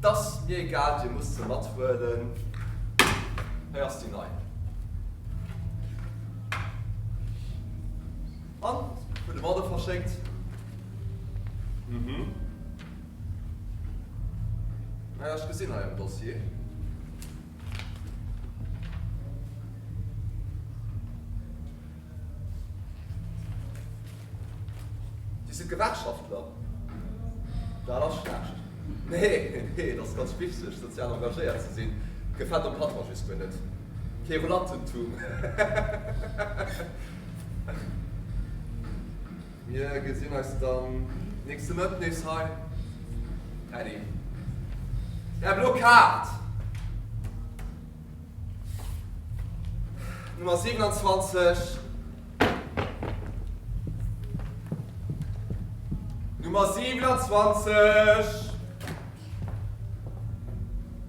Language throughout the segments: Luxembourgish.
't ass mir egal, Dir musst se mat huelen, hei ass déi nei. An hu de Motto verschéckt. Mhm. Naja, ech gesinn hei am Dossier. Dir sidd Gewerkschaftler? Dat ass schlecht. Nee, nee, et ass ganz wichteg, sozial engagéiert ze sinn. Gefält dem Patron just guer net. Querulantentum, hehehehe. Mir gesinn eis dann nächste Mëtt nees hei. Paddy. Där blo Kaart! Nummer 27. Nummer 27!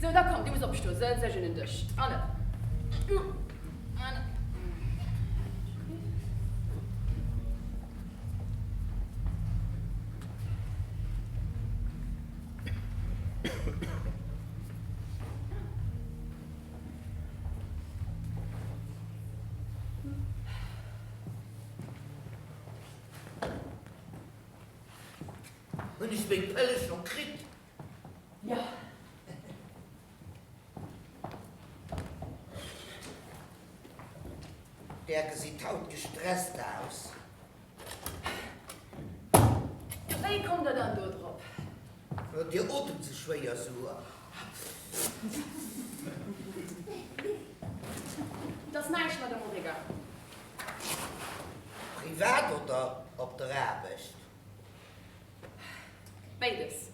Sou, da komm, du muss opstoen. Sëtz dech un den Dësch. Allez, du an ech. Hunn ech meng Pëlle scho kritt? Där gesitt haut gestresst aus. Wéi kommt der dann do drop? Dir otemt ze schwéier, souer. Et ass näischt, Madame Origa. Privat oder op der Aarbecht? Béides.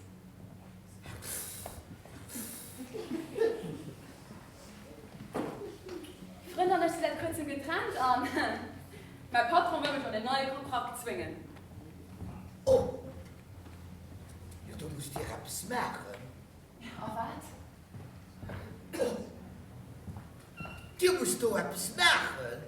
Frënn an ech si säit kuerzem getrennt an mäi Patron wëll mech an en neie Kontrakt zwéngen. Oh! Jo, do musst Dir eppes maachen. Jo, a wat? Oh! Dir musst do eppes maachen.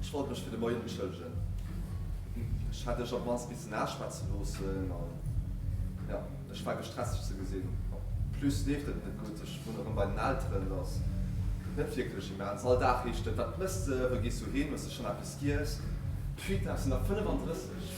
Ech wollt mech fir de Moien entschëllegen. Ech hat iech op mannst missen aschwätze loossen an jo, ech war gestresst iech ze gesinn. En plus leeft et net gutt, ech wunnen erëm bei den Elteren, dat ass net wierklech immens. All Dag heescht et, wat mëss de, wou gees du hin, hues de schonn eppes giess? D'Fuite aus den der 35.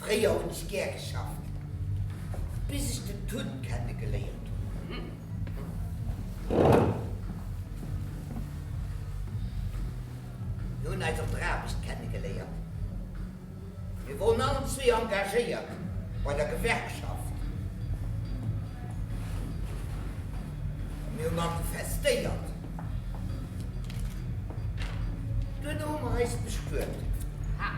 Fréier hunn ech gär geschafft, bis ech den Tun kenne geléiert hunn. Mir hunn eis op der Aarbecht kenne geléiert. Mir woren allen zwee engagéiert bei der Gewerkschaft a mir hu manifestéiert. Duerno hu mer eis bestuet. Ha!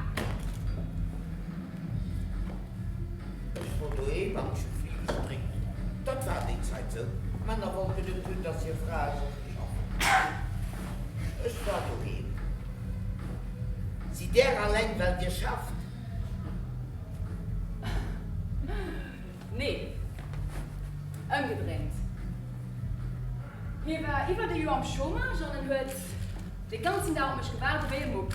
Ech wor doheem an ech hu vill gestréckt. Dat war déi Zäit sou. D'Männer wollten net hunn, dass hir Frae sollten schaffen. Ech war doheem. Sidd Där alleng, well Dir schafft? Nee, ëmgedréint. Hie war iwwert e Joer am Chômage an en huet de ganzen Dag op mech gewaart ewéi e Mupp.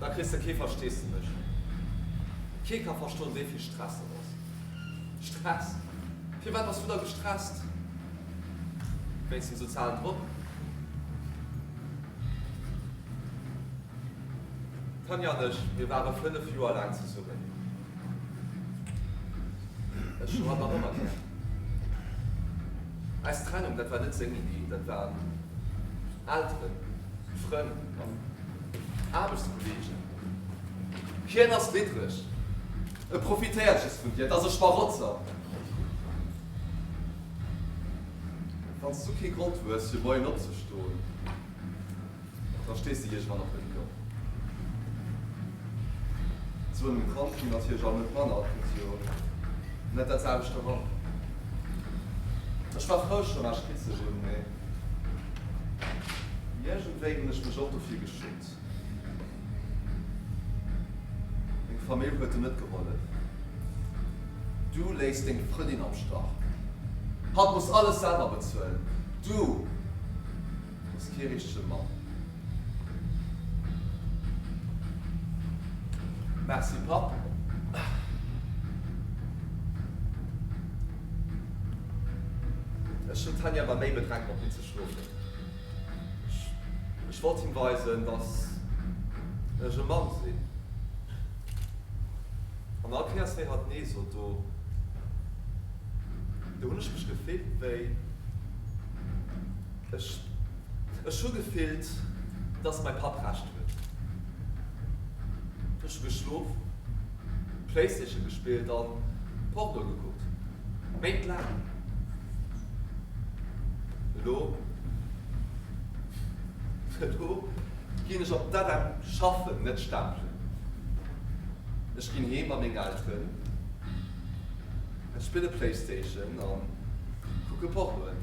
Da kriss de kee Versteesdemech. Kee ka verstoen, wéi vill Stress dat ass. Stress? Firwat bass du da gestresst? Wéinst dem sozialen Drock? D'Tanja an ech, mir ware fënnef Joer laang zesummen. Ech hat nach ëmmer gär. Eis Trennung, dat war net seng Iddi, dat waren Elteren, Frënn an Aarbechtskolleegen. Hien ass middreg, e profitéiert just vun dir, et ass e Schmarotzer. Wann s du kee Grond hues, fir moien opzestoen. Da stees de iergendwann op de Fouer. Sou en Kand wier natierlech alt net manner, et muss jo net dat selwecht eran. Ech war frou, Chômage kritt ze hunn, mee iergendwéi hunn ech mech och dofir geschummt. Deng Famill huet der net gehollef. Du léiss deng Frëndin am Stach. Hatt muss alles selwer bezuelen. Du hues kee richtege Mann. Merci, Papp. Ech hunn d'Hänn awer méi bedreckt, mat dir ze schlofen. Ech wollt him weisen, dass ech e Mann sinn. An all Kéiers, wéi hatt Nee sot, do hunn ech mech gefillt wéi, ech, ech hu gefillt, dass mäi Papp Recht huet. Ech hu geschlof, Playstation gespillt an Porno gekuckt. Béid laang. Elo do ginn ech op d'Adem schaffen, net stapelen. Ech ginn heem bei meng Elteren, ech spille Playstation a kucke Pornoen.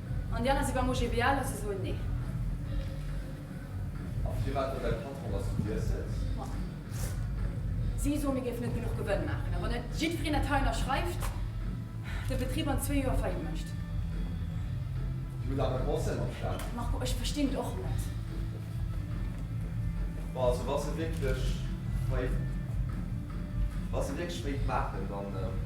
An déi aner si beim OGBL a se soen Nee. A firwat huet däi Patron, dass du Dir sëtz? Ma si soen, mir géifen net genuch Gewënn maachen. A wann net jiddwereen dat hei ënnerschreift, de Betrib an zwee Joer Faillite mécht. Dir hutt awer Conseil mam Staat? Marco, ech verstinn et och net. Bon, also wa se wierklech Faillite, wa se wierklech Faillite maachen, dann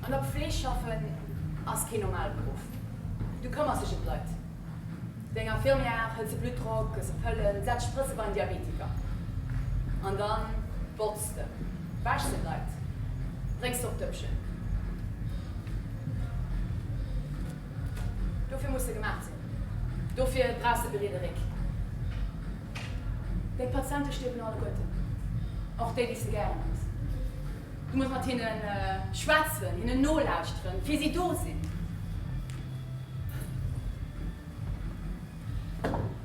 An op Fleesch schaffen ass keen normale Beruff. Du këmmers dech em d'Leit. Deng Infirmière hëlt de Bluttdrock, gëss e Pëllen, setz Sprëtze beim Diabetiker. An dann botz de, wäsch de d'Leit, bréngs de op d'Dëppchen. Dofir muss de gemaach sinn. Dofir brauchs de e briede Réck. Deng Patiente stierwen alleguerten, och déi, déi s de gären hues. Du muss mat hinne schwätzen, hinnen nolauschteren, fir si do sinn.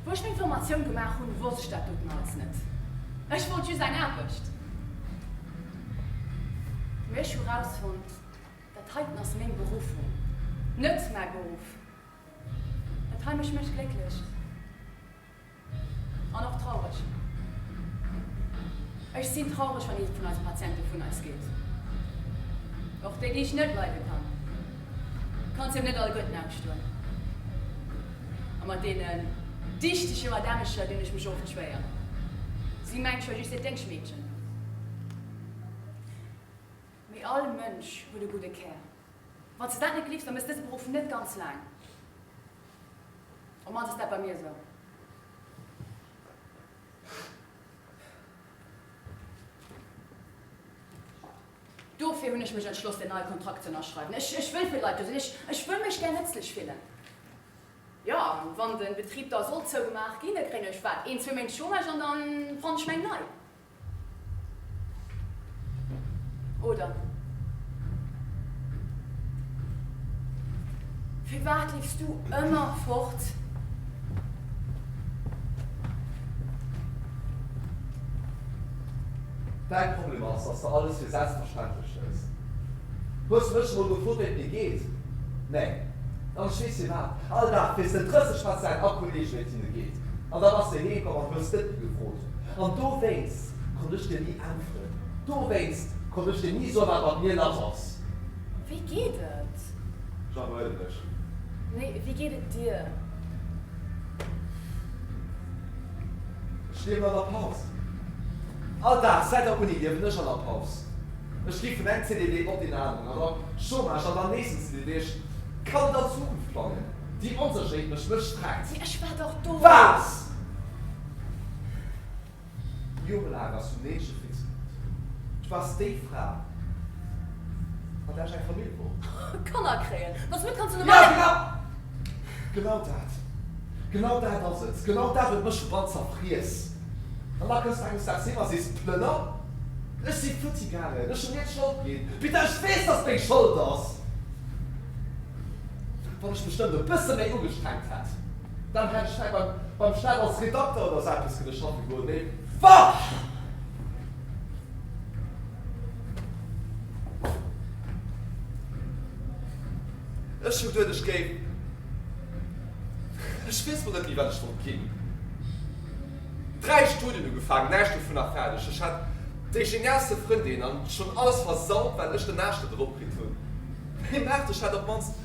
Wou ech meng Formatioun gemaach hunn, wosst ech dat doten alles net. Ech wollt just eng Aarbecht. Mee ech hu rausfonnt, dat heiten ass meng Beruffung, net mäi Beruff. Dat hei mécht mech glécklech. An och traureg. Ech sinn traureg, wann ee vun eise Patiente vun eis geet. Och déi, déi ech net leide kann. Du kanns him net all Gutt namstoen. A mat deene dichtege Madamecher dinn ech mech oft schwéier. Si mengt scho just hiert Déngschmeedchen. Mee all Mënsch huet e gudde Kär. Wann s de dat net gleefs, da méchs dëse Beruff net ganz laang. Op d'mannst ass dat bei mir esou. Dofir hunn ech mech entschloss, deen neie Kontrakt z'ënnerschreiwen. Ech wëll fir d'Leit do sinn. Ech wëll mech gär nëtzlech fillen. Jo, an wann de Betrib da sollt zougemaach ginn, da kréien ech, wat, een, zwee Méint Chômage an da fann ech meng nei. Oder, Firwat leefs du ëmmer fort? Däi Problem ass, dass de alles fir selbstverständlech hëls. Hues de mech emol gefrot, wéi et mir geet? Nee? Dann ech weess firwat. All Dag frees de 30 Mal d'Zäit a Kolleegen, wéi et hinne geet. An da bass de heemkomm an hues net méi gefrot, An dowéinst konnt ech dir ni äntweren. Dowéinst konnt ech dir ni soen, wat mat mir lass ass. Wéi geet et? Jean, Beruhig dech. Nee, wéi geet et dir? Ech liewen an der Paus. All Dag, säit der Uni, liewen ech an der Paus. Ech gi vun engem CDD op deen aneren, an da Chômage, an dann nächsten CDD. Ech kann net an d'Zukunft plangen. Déi Onsécherheet mécht mech strekt. Mee ech war dach do! Wat? Jore laang ass hunn Meedche Fritz geruff. Du waars déi Fra, mat där ech eng Famill wor. Kanner kréien, dass mir d'Kanz Numm. Jo, genau! Genau dat! Genau dat ass et! Genau dat huet mech verbrannt, zerfriess! An da kënns du enges Daags heem a sees, Plënner, ech si futti gaangen, ech hunn dir d'Schold ginn! Peter, ech weess, dass et meng Schold ass! Wann ech mech nëmmen e bësse méi ugestrengt hätt! Dann hätt ech vläit beim, beim Staat als Redakter oder esou eppes kënne schaffe goen, mee wahh! Ech hunn geduet, ech géif, ech weess mol net méi, wat ech wollt ginn. Dräi Studien ugefaangen, näischt dovunner fäerdeg. Ech hat déi geniaalste Frëndin an schonn alles versaut, wat ech den Aascht net eropkritt hunn. Mee Maartech hat op d'mannst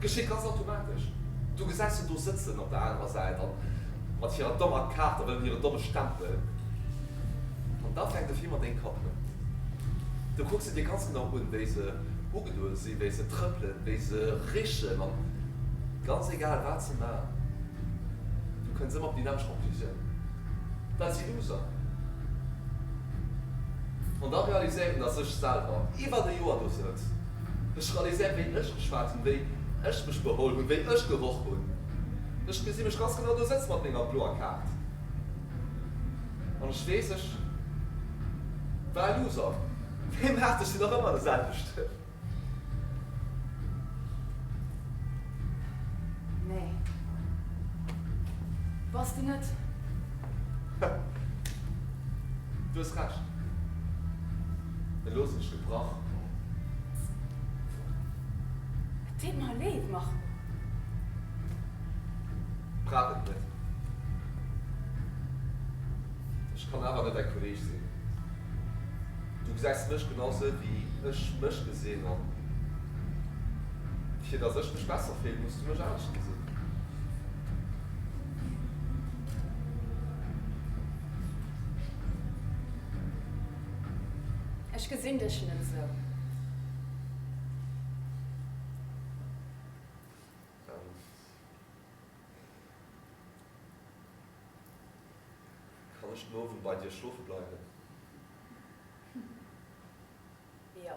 Geschitt ganz automatesch. Du gesäis se do sëtzen op der anerer Säit an mat hirer dommer Kaart a wëllen hire domme Stempel. An da fänkt de Film an deng Kapp un. Du kucks se dir ganz genau un, wéi se ugedoe sinn, wéi se trëppelen, wéi se richen an ganz egal wat se maachen, du kënns ëmmer op déi nämmlecht Conclusioun, dat si Loser. An da realiséieren, datt ech selwer iwwert e Joer do sëtz. Ech realiséieren, wéi ech geschwat hunn, wéi ech mech beholl hunn, wéi ech geroch hunn. Ech gesi mech ganz genau do sëtze mat menger bloer Kaart. An ech weess, ech war e Loser. Wéi maacht, ech sinn nach ëmmer de selwechten. Nee, bass de net. Du hues Recht. En looss mech de Brach komm. Et deet mer leed, Marco. Brauch et net. Ech kann awer net däi Kolleeg sinn. Du gesäis mech genau sou, wéi ech mech gesinn. An fir dass ech mech besser fillen, muss du mech anescht gesinn. Ech gesinn dech net esou. Kann ech den Owend bei dir schlofe bleiwen? Jo.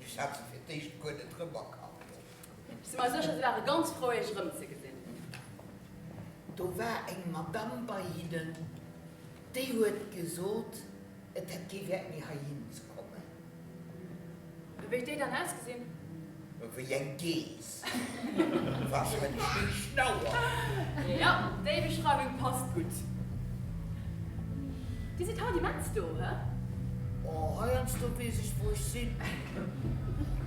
Ech hat se fir d'éischt guer net rëmerkannt. Si mar sécher, si ware ganz frou iech erëmzegesinn. Do war eng Madame bei hinnen, déi huet gesot, et hätt kee Wäert méi heihinze kommen. Wéi huet déi dann ausgesinn? Wéi eng Geess. Was fir eng schéin Schnauer! Jo, déi Beschreiwung passt gutt. Dir sidd haut immens do, he? Oh, heiansdo weess ech, wou ech sinn.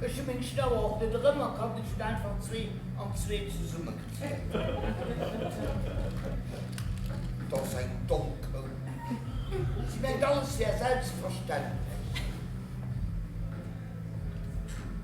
Ech hu meng Schnauer och net erëm erkannt, ech hunn einfach zwee an zwee zesummegezunn. Et ass eng domm Kou. Si mengt, alles wär selbstverständlech.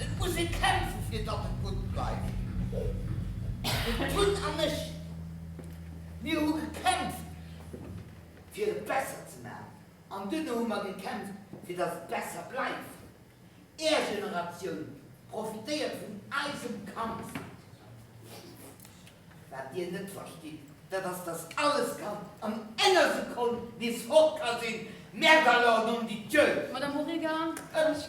Et muss ee kämpfen, fir datt et gutt bleift. Den Tun an ech, mir hu gekämpft, fir et besser ze maachen. An duerno hu mer gekämpft, fir datt et besser bleift. Är Generatioun profitéiert vun eisem Kampf. Wat Dir net verstitt, dat ass, dass alles kann an enger Sekonn nees fort ka sinn. Merde alors, nom de Dieu! Madame Origer, ech.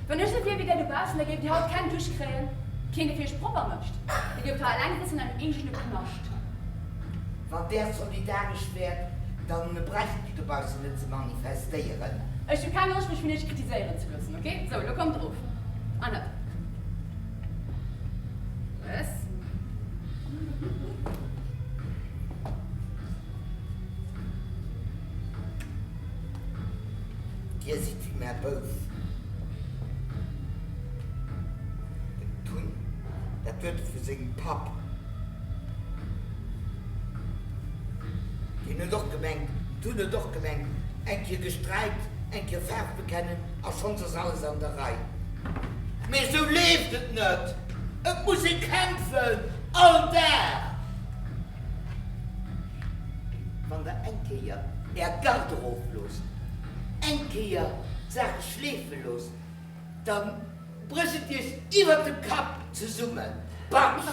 Wann ech sou wier wéi där dobaussen, da géift Dir haut keng Dusch kréien, keen dee fir Iech propper mécht. Dir géift hei eleng sëtzen an engem eegene Knascht. Wann där solidaresch wäert, da bräicht Dir dobaussen net ze manifestéieren. Ech hu keng Loscht, mech vun Iech kritiséieren ze loossen, ok? Sou, lo kommt erof an hëlt Plëss. Dir sidd mär bous. Den Tun, dat huet e vu sengem Papp. Deen huet och gemengt, den Tun huet och gemengt, eng Kéier gesträikt, eng Kéier Faarf bekennen a schonns ass alles an der Rei. Mee esou leeft et net. Et muss ee kämpfen, all Dag. Wann der eng Kéier Är Gard erofloosst, eng Kéier d'Saache schleefe loosst, da brécht et Iech iwwert dem Kapp zesummen. Barsch!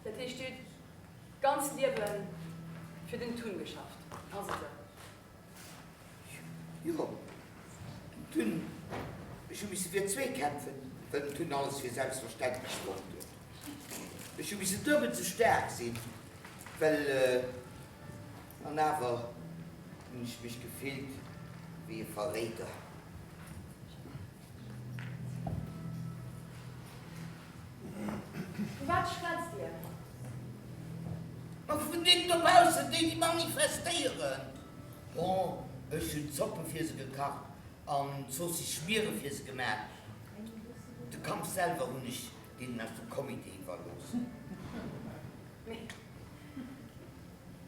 Dat heescht, dir hutt d'ganz Liewe fir den Tun geschafft, ass et sou? Jo, den Tun. Ech hu misse fir zwee kämpfen, well den Tun alles fir selbstverständlech fonnt huet. Ech hu misse duebel sou staark sinn, well. An awer hunn ech mech gefillt wéi e Verréider. Vu wat schwätzt Dir? Ma vun deenen dobaussen, déi, déi manifestéieren. Bon, ech hunn d'Zoppe fir se gekacht an d'Zoossisschmiere fir se gemaach. De Kampf selwer hunn ech deenen aus dem Comité iwwerlooss. Mee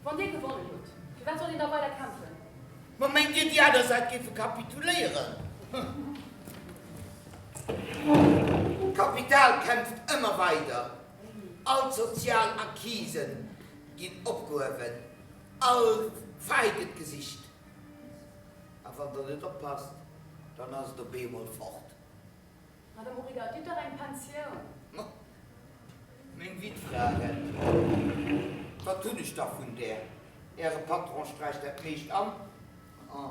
wann Dir gewonnen hutt, firwat sollt een da weider kämpfen? Ma mengt Dir, déi aner Säit géife kapituléieren? D'Kapital kämpft ëmmer weider. All d'sozial Acquise ginn opgehuewen, all Fai gëtt gesicht. A wann Der net oppasst, dann ass et op eemol fort. Madame Origer, gitt der eng Pensioun? Ma, meng Witfra rett drop. Wat hunn ech da vun där? Äre Patron sträicht dat meescht an a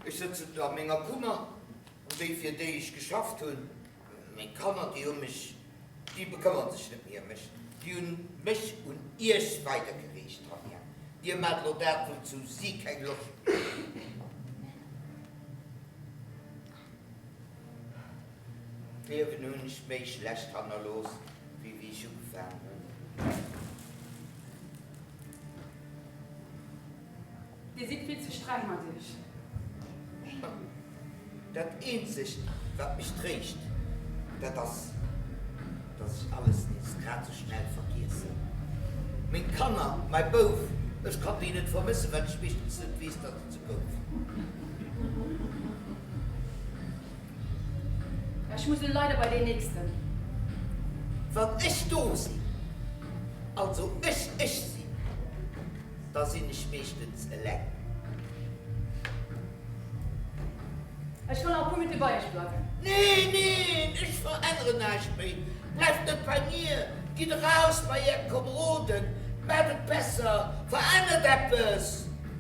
ech sëtzen do a menger Kummer. An déi, fir déi ech geschafft hunn, meng Kanner, déi hu mech, déi bekëmmere sech net méi ëm mech. Déi hu mech un Iech weidergereecht, Tanja. Dir maacht elo dat, wouzou si keng Loscht hunn. D'Liewen hunn ech méi schlecht hannerlooss wéi wéi ech ugefaangen hunn. Dir sidd vill ze streng mat iech. Dat eenzegt wat mech tréischt, dat ass dass ech alles nees grad esou schnell vergiessen. Meng Kanner, mäi Bouf, ech kann déi net vermëssen, well ech meeschtens net weess, dass. Ech muss elo leider bei deen nächsten. Wann ech do sinn, also ech ech sinn, da sinn ech meeschtens eleng. Ech kann nach e puer Minutte bei iech bleiwen. Nee, neen, ech veränneren näischt méi. Bleift net bei mir, gitt eraus bei är Komeroden, maacht et besser, verännert eppes!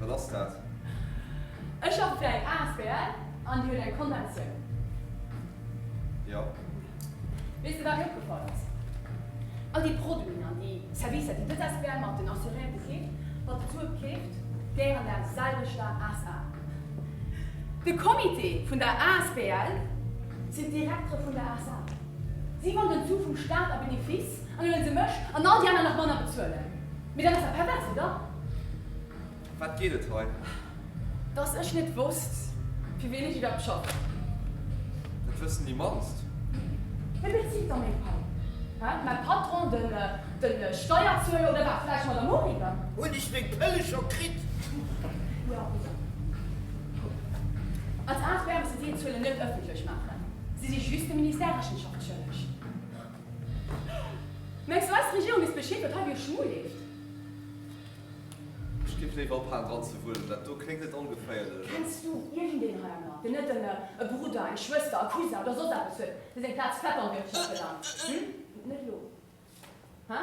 Wat ass dat? Ech schaffe fir eng asbl an déi huet eng Konventioun. Jo. Weess de wat mir opgefall ass? All déi Produiten an déi Servicer déi dës asbl mat den Assuréierte keeft, mat de Sue keeft, gehéieren der selwechter SA. De Comité vun der asbl sinn d'Direktere vun der SA. Si man den Sue vum Staat a Benefice an huelen se mech an all déi aner nach manner bezuelen. Mee dat ass der pervers, oder? Wat geet et hei? Dass ech net wosst, fir wien ech iwwerhaapt schaffen? Dat wëssen déi mannst. Wie bezilt da meng Pai? Hä? Mäi Patron, den Steierzueler oder wat? Vläicht d'Madame Hourigan? Hunn ech meng Pëlle scho kritt? Jo, Lisa. Kuck, als Aart wäerme se déi Zuelen net ëffentlech maachen. Si si just dem Ministère Rechenschaft schëlleg. Mengs du eis d'Regierung misst Bescheed wat hei duerch Schmu leeft? Ech géif léiwer ophalen dran ze wuelen, dat do kléngt net ongeféierlech. Kenns du iergendeen heiernner, deen net e Brudder, eng Schwëster, e Cousin oder soss eppes huet, dee seng Plaz fett an Wirtschaft belangt? Hm? Net elo? Hä?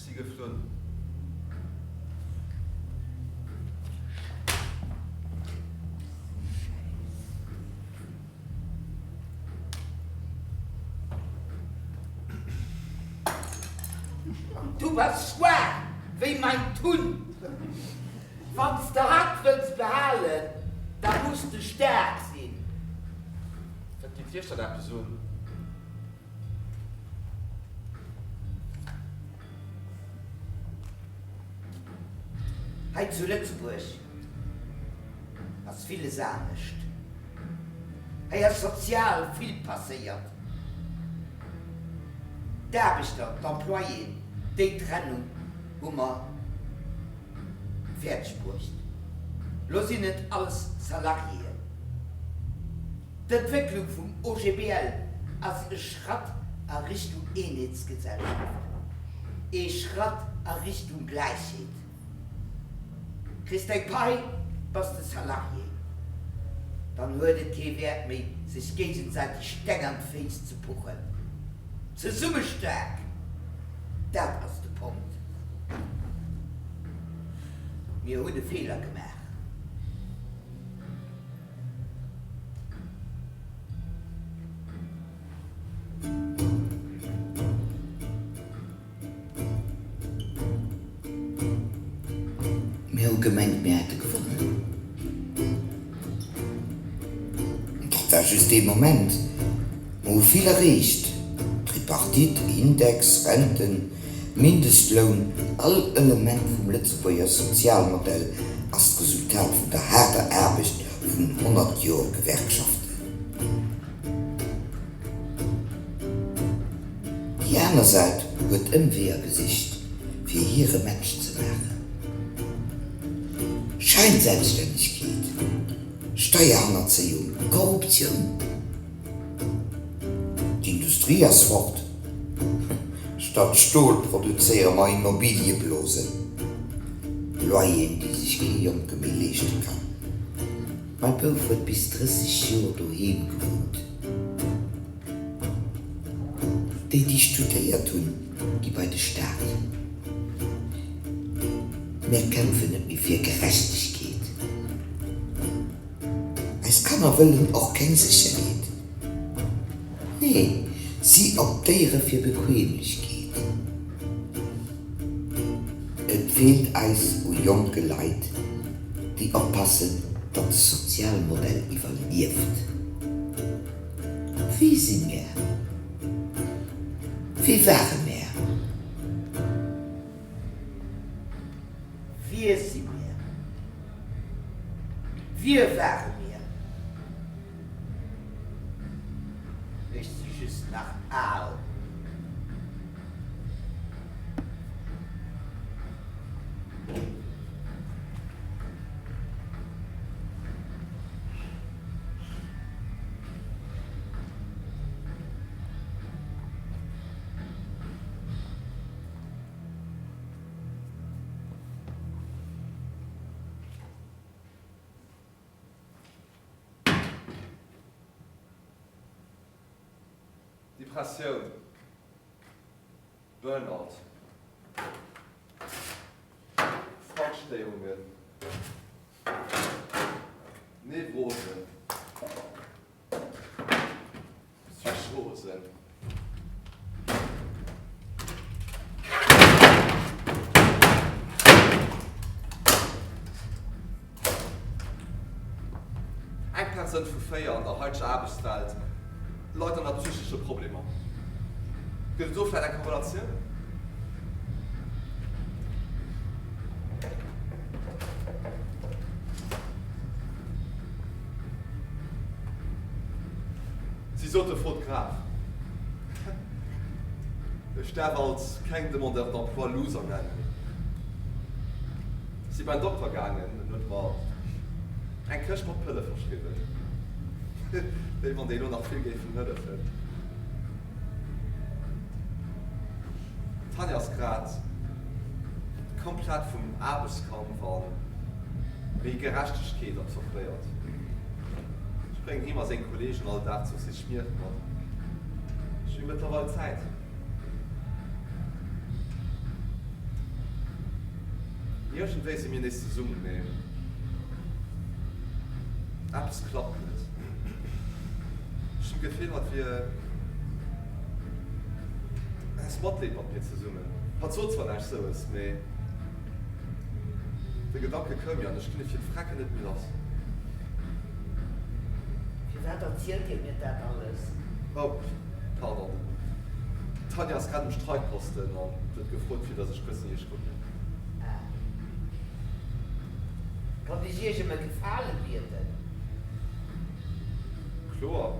Si geflunn. Du bass schwaach wéi mäin Tun. Wann s de hatt wëlls behalen, da muss de staark sinn. Wat geet Iech dat eppes un? Hei zu Lëtzebuerg ass villes anescht. Hei ass sozial vill passéiert. D'Aarbechter, d'Employéen, déi Trennung hu mer fäerdeg bruecht. Lo sinn et alles Salariéen. D'Entwécklung vum OGBL ass e Schratt a Richtung Eenheetsgesellschaft, ee Schratt a Richtung Gläichheet. Kriss däi Pai, bass de Salarié, dann huet et kee Wäert méi, sech géigesäiteg Steng an d'Féiss ze puchen. Zesumme staark, dat ass de Punkt. Mir hunn e Feeler gemaach. Mir hu gemengt mir hätte gewonnen. Dat war just ee Moment. Mer hu vill erreecht, Tripartite, Index, Renten. Mindestloun an all Element vum Lëtzebuerger Sozialmodell ass d'Resultat vun der haarder Aarbecht vun 100 Joer Gewerkschaften. Déi aner Säit huet Ëmweeër gesicht, fir hire Match ze maachen, Scheinselbststännegkeet, Steierhannerzéiung, Korruptioun. D'Industrie ass fort. Statt Stol produzéiere mer Immobiliëblosen. Loyeren, déi sech kee Jonke méi leeschte kann. Mäi Bouf huet bis 30 Joer doheem gewunnt. Déi, déi studéiert hunn, gi bei de Staat. Mer kämpfen net méi fir Gerechtegkeet. Eis Kanner wëllen och keng Sécherheet, nee, si optéiere fir Bequemlechkeet. Et feelt eis u jonke Leit, déi oppassen, datt de Sozialmodell iwwerlieft. Wie si mär? Wie ware mär? Wie si mir? Wie ware mir? Ech si just nach al. Depressioun, Burnout, Zwankstéierungen, Nevrosen. Eng Persoun vu véier an der haiteger Aarbechtswelt leit ënner psychesche Problemer. Gëtt et do vläicht eng Korrelatioun? Si sote flott graf. Ech daf alt keng Demandeurs d'emploi Loser nennen. Si bein Dokter gaangen en huet mer eng Këscht mat Pëlle verschriwwen, wéi wann déi lo nach vill géifen hëllefen. D'Tanja ass grad komplett vum Aarbechtskampf a méi Gerechtegkeet absorbéiert. Ech bréngen him a seng Kolleegen all Dag Zooss his Schmier mat. Ech hu mëttlerweil Zäit. Iergendwéi si mir nees zesummen, mee eppes klappt net. Ech hunn d'Gefill, hatt wier. Ess Matlépapier zesummen. Hat sot zwar näischt Soues, mee de Gedanke koum mir an ech ginn e fir d'Vrecken net méi lass. Firwat erzielt Dir mir dat alles? Oh, pardon, d'Tanja ass grad um Streikposten an huet gefrot, fir datt ech kuerz no hir schrudelen. Ah. Konnt ech Iech ëm e Gefale bieden? Kloer.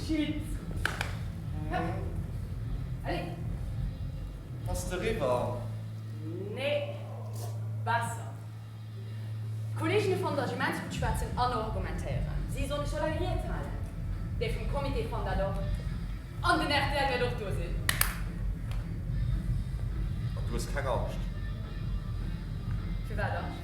Bass de riwwer? Nee, besser. D'Kolleeginne vun der Gemeinschaft schwätzen an argumentéieren. Si soll ech eleng Ried halen? Déi vum Comité fannt dat och. An den rtl wäert och do sinn. Du hues keng Angscht? Firwat Angscht?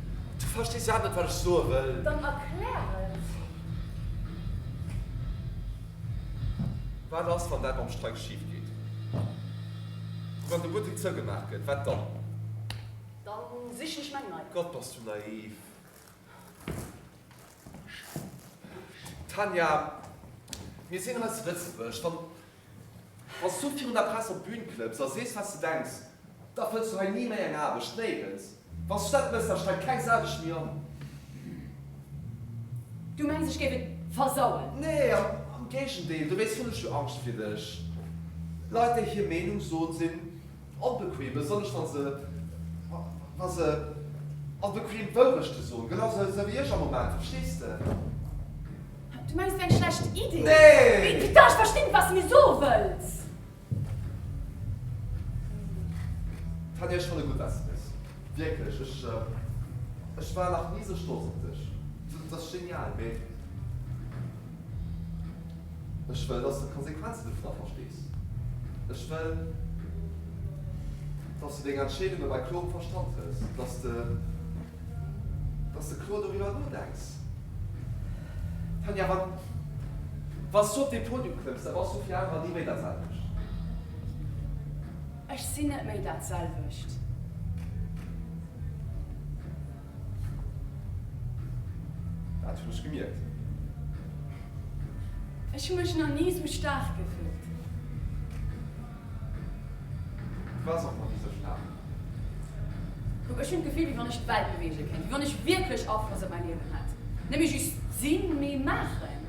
Du verstees iwwerhaapt net, wat ech soe wëll. Dann erklär et! Wat ass, wann dat mam Streik schif geet? Wann de Buttek zougemaach gëtt, wat dann? Dann sichen ech meng nei. Gott, bass du naiv! Tanja, mir sinn hei zu Lëtzebuerg. Wann s du virun der Press op d'Bün klëmms a sees, wat s du denks, da fënns du hei ni méi eng Aarbecht, néirens. Wann s du dat mëss, da strengt keng Sau dech méi an. Du mengs, ech géif et versauen? Nee, am Géigendeel, dobäi hunn ech jo Angscht fir dech. Leit, déi hir Meenung soen, sinn. Onbequem, besonnesch wa se, wa se onbequem Wourechte soen, genau sou, sou wéi ech am Moment, verstees de? Du mengs, et wier eng schlecht Iddi? Nee! Rita, ech verstinn net, wat s de mir soe wëlls. Et hätt iech fannen, gutt dat s de bist. Wierklech, ech, ech war nach ni sou stolz op dech. Du bass genial, mee. Ech wëll, dass du d'Konsequenzen dovun da verstees. Ech wëll, dass du deng Entscheedunge bei klorem Verstand hëls, dass de, dass de kloer doriwwer nodenks. Tanja, wa, wa s du op dee Podium klëmms, da bass du fir anerer ni méi dat selwecht. Ech sinn net méi dat selwecht. Daat hun ech gemierkt. Ech hu mech nach nie sou stark gefillt. Du wars och nach nie sou stark. Kuck, ech hun d'Gefill wéi wann ech d'Welt beweegen kéint, wéi wann ech wierklech Afloss op mäin Liewen hätt. Net méi just sinn, mee maachen.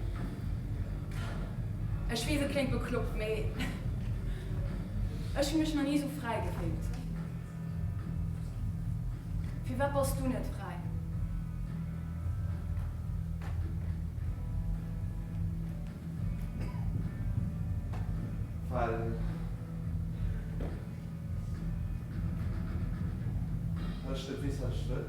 Ech wees, et kléngt bekloppt, mee ech hu mech nach nie sou fräi gefillt. Firwat bass du net fräi? Well ech net weess, wat ech wëll.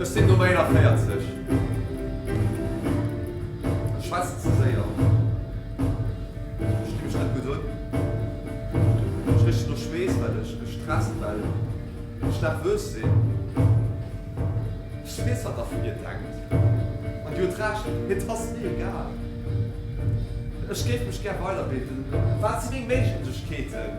Ech sinn Nummer 41. Ech schwätzen ze séier. Ech gi mech net gutt un. Ech richen no Schweess, well ech gestresst well. Ech daf wös sin, ech wés, wat der vun dir denkt, an dir huet Recht, et ass mir egal. Ech géif mech gär weiderbilden, wat si meng Méiglechkeeten?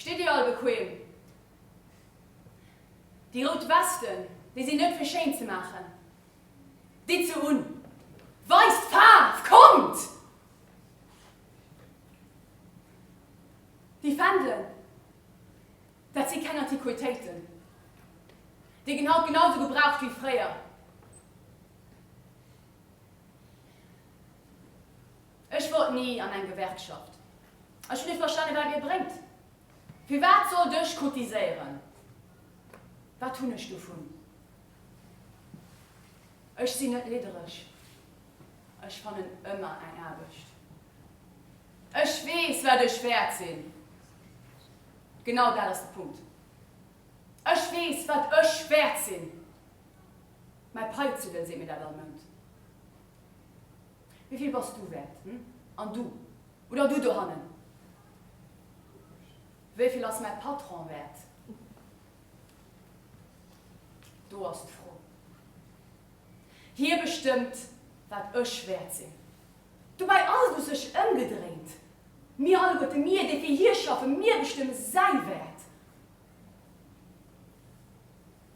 Steet dir all bequem? Déi rout Westen, déi sinn net fir schéin ze maachen. Ditt se un! Weist Faarf! Kommt! Déi Fändelen, dat si keng Antiquitéiten. Déi ginn haut genausou gebraucht wéi fréier. Ech wollt ni an eng Gewerkschaft. Ech hunn net verstane wat Dir bréngt. Firwat sollt ech cotiséieren? Wat hunn ech dovun? Ech sinn net liddereg. Ech fannen ëmmer eng Aarbecht. Ech weess wat ech wäert sinn. Genau dat ass de Punkt. Ech weess wat ech wäert sinn. Mäi Paizuddel seet mir dat all Mount. Wéi vill bass du wäert, hm? An du? Oder du dohannen? Wéi vill ass mäi Patron wäert? Do ass d'Fro. Hie bestëmmt, wat ech wäert sinn. Dobäi ass et u sech ëmgedréint, Mir alleguerte, mir, déi fir hie schaffen, mir bestëmme säi Wäert.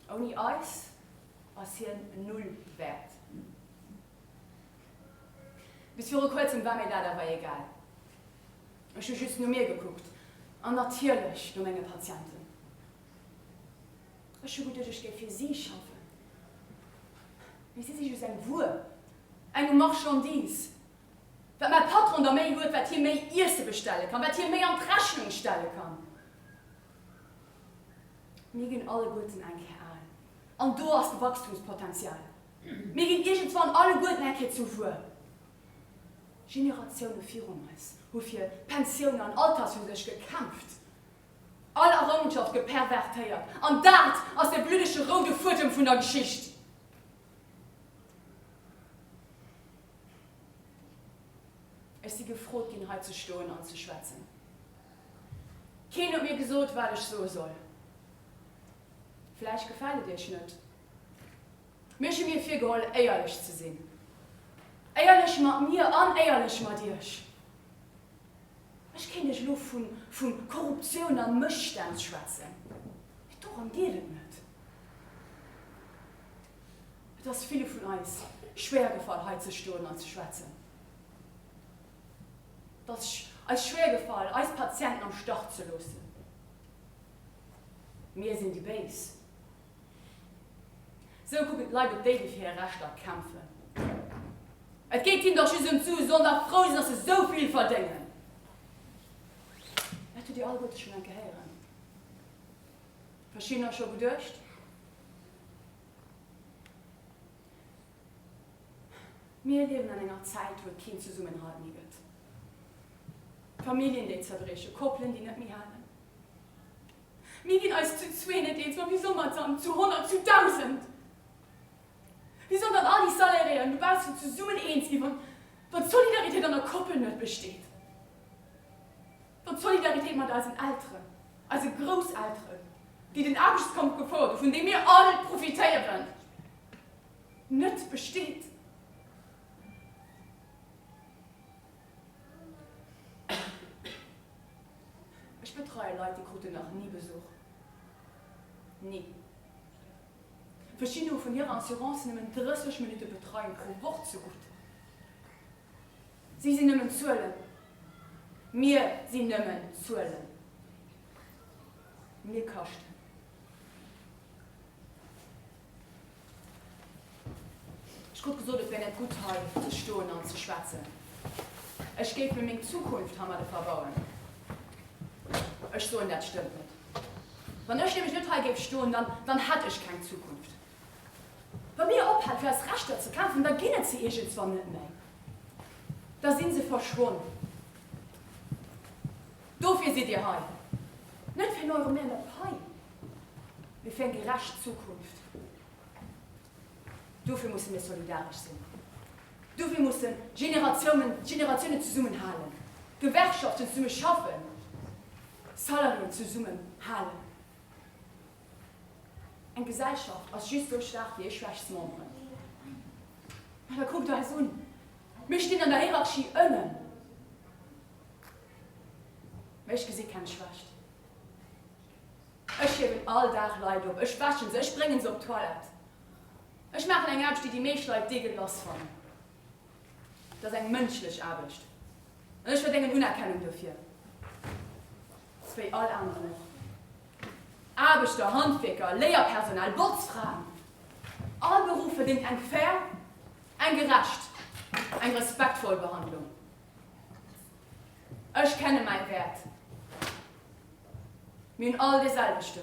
Ouni eis ass hien null wäert. Bis viru kuerzem war mir dat awer egal. Ech hu just no mir gekuckt an natierlech no menge Patienten. Ech hu geduecht, ech géif fir si schaffen, mee si si just eng Wuer, eng Marchandise. Wat mäi Patron da méi huet, wat hie méi Iesse bestelle kann, wat hie méi an d'Rechnung stelle kann. Mir ginn alleguerten eng Kéier al, an do ass de Wachstumspotenzial, mir ginn iergendwann alleguerten eng Kéier zu wuel. Generatioune virun eis hu fir Pensiounen an Altershüsech gekämpft, all Errongenschafte gepervertéiert, an dat ass de bluddege roude Fuedem vun der Geschicht. Ech si gefrot ginn, hei ze stoen an ze schwätzen. Keen huet mir gesot, wat ech soe soll. Vläicht gefält et iech net, mee ech hu mir virgeholl, éierlech ze sinn. Éierlech mat mir an éierlech mat iech. Ech kéint iech elo vu Korruptioun a Mësstänn schwätzen, mee dorëm geet et net. Et ass ville vun eis schwéiergefall, hei ze stoen an ze schwätzen. Et ass eis schwéier gefall, eis Patienten am Stach ze loossen. Mir sinn déi Béis. Esou kucken d'Leit op déi, déi fir hir Rechter kämpfen. Et geet hinnen dach just ëm d'Su, se sollen dach frou sinn, datt se esou vill verdéngen. Dat hutt Dir alleguerte schonn enke héieren. Verschiddener scho geduecht. Mir liewen an enger Zäit, wou et keen Zesummenhalt méi gëtt. Familljen, déi zerbriechen, Koppelen, déi net méi halen. Mir ginn eis zu zwee net eens, ma wéi soll mer et dann zu honnert, zu dausend? Wéi sollen dann all déi Salariéen dobaussen zesummen eens ginn, wann d'Solidaritéit an der Koppel net besteet? An d'Solidaritéit mat eisen Elteren, eise Grousselteren, déi den Aarbechtskampf gefouert hu vun deem mir all profitéieren, net besteet. Ech betreie Leit, déi kruten nach ni Besuch. Ni. Verschidden hu vun hirer Assurance nëmmen 30 Minutte Betreiung pro Woch zegutt. Si sinn nëmmen Zuelen. Mir sinn nëmmen Zuelen. Mir kaschten. Ech krut gesot, et wär net gutt, hei ze stoen an ze schwätzen. Ech géif mir meng Zukunft heimadde verbauen. Ech soen, dat stëmmt net. Wann ech nämlech net hei géif stoen, dann hätt ech keng Zukunft. Wa mir ophale fir eis Rechter ze kämpfen, da ginn et se iergendswann net méi, da si se verschwonn. Dofir sidd Dir hei, net fir en Euro méi an der Pai, mee fir eng gerecht Zukunft. Dofir musse mir solidaresch sinn, dofir mussen d'Generatiounen d'Generatiounen zesummen halen, d'Gewerkschaften zesumme schaffen, d'Salariéen zesumme halen. Eng Gesellschaft ass just esou schwaach wéi hir schwächst Memberen. Mä da kuckt eis un, mir stinn an der Hierarchie ënnen, mä ech gesi keng Schwächt. Ech hiewen all Dag Leit op, ech wäsche se, ech brénge se op d'Toilette, ech maachen eng Aarbecht, déi déi meescht Leit deguelass fannen. Et ass eng mënschlech Aarbecht an ech verdéngen Unerkennung dofir, sou wéi all aneren och. Aarbechter, Handwierker, Léierpersonal, Botzfraen, all Beruff verdéngt eng fair, eng gerecht, eng respektvoll Behandlung. Ech kenne mäi Wäert. Mir hunn all dee selwechten.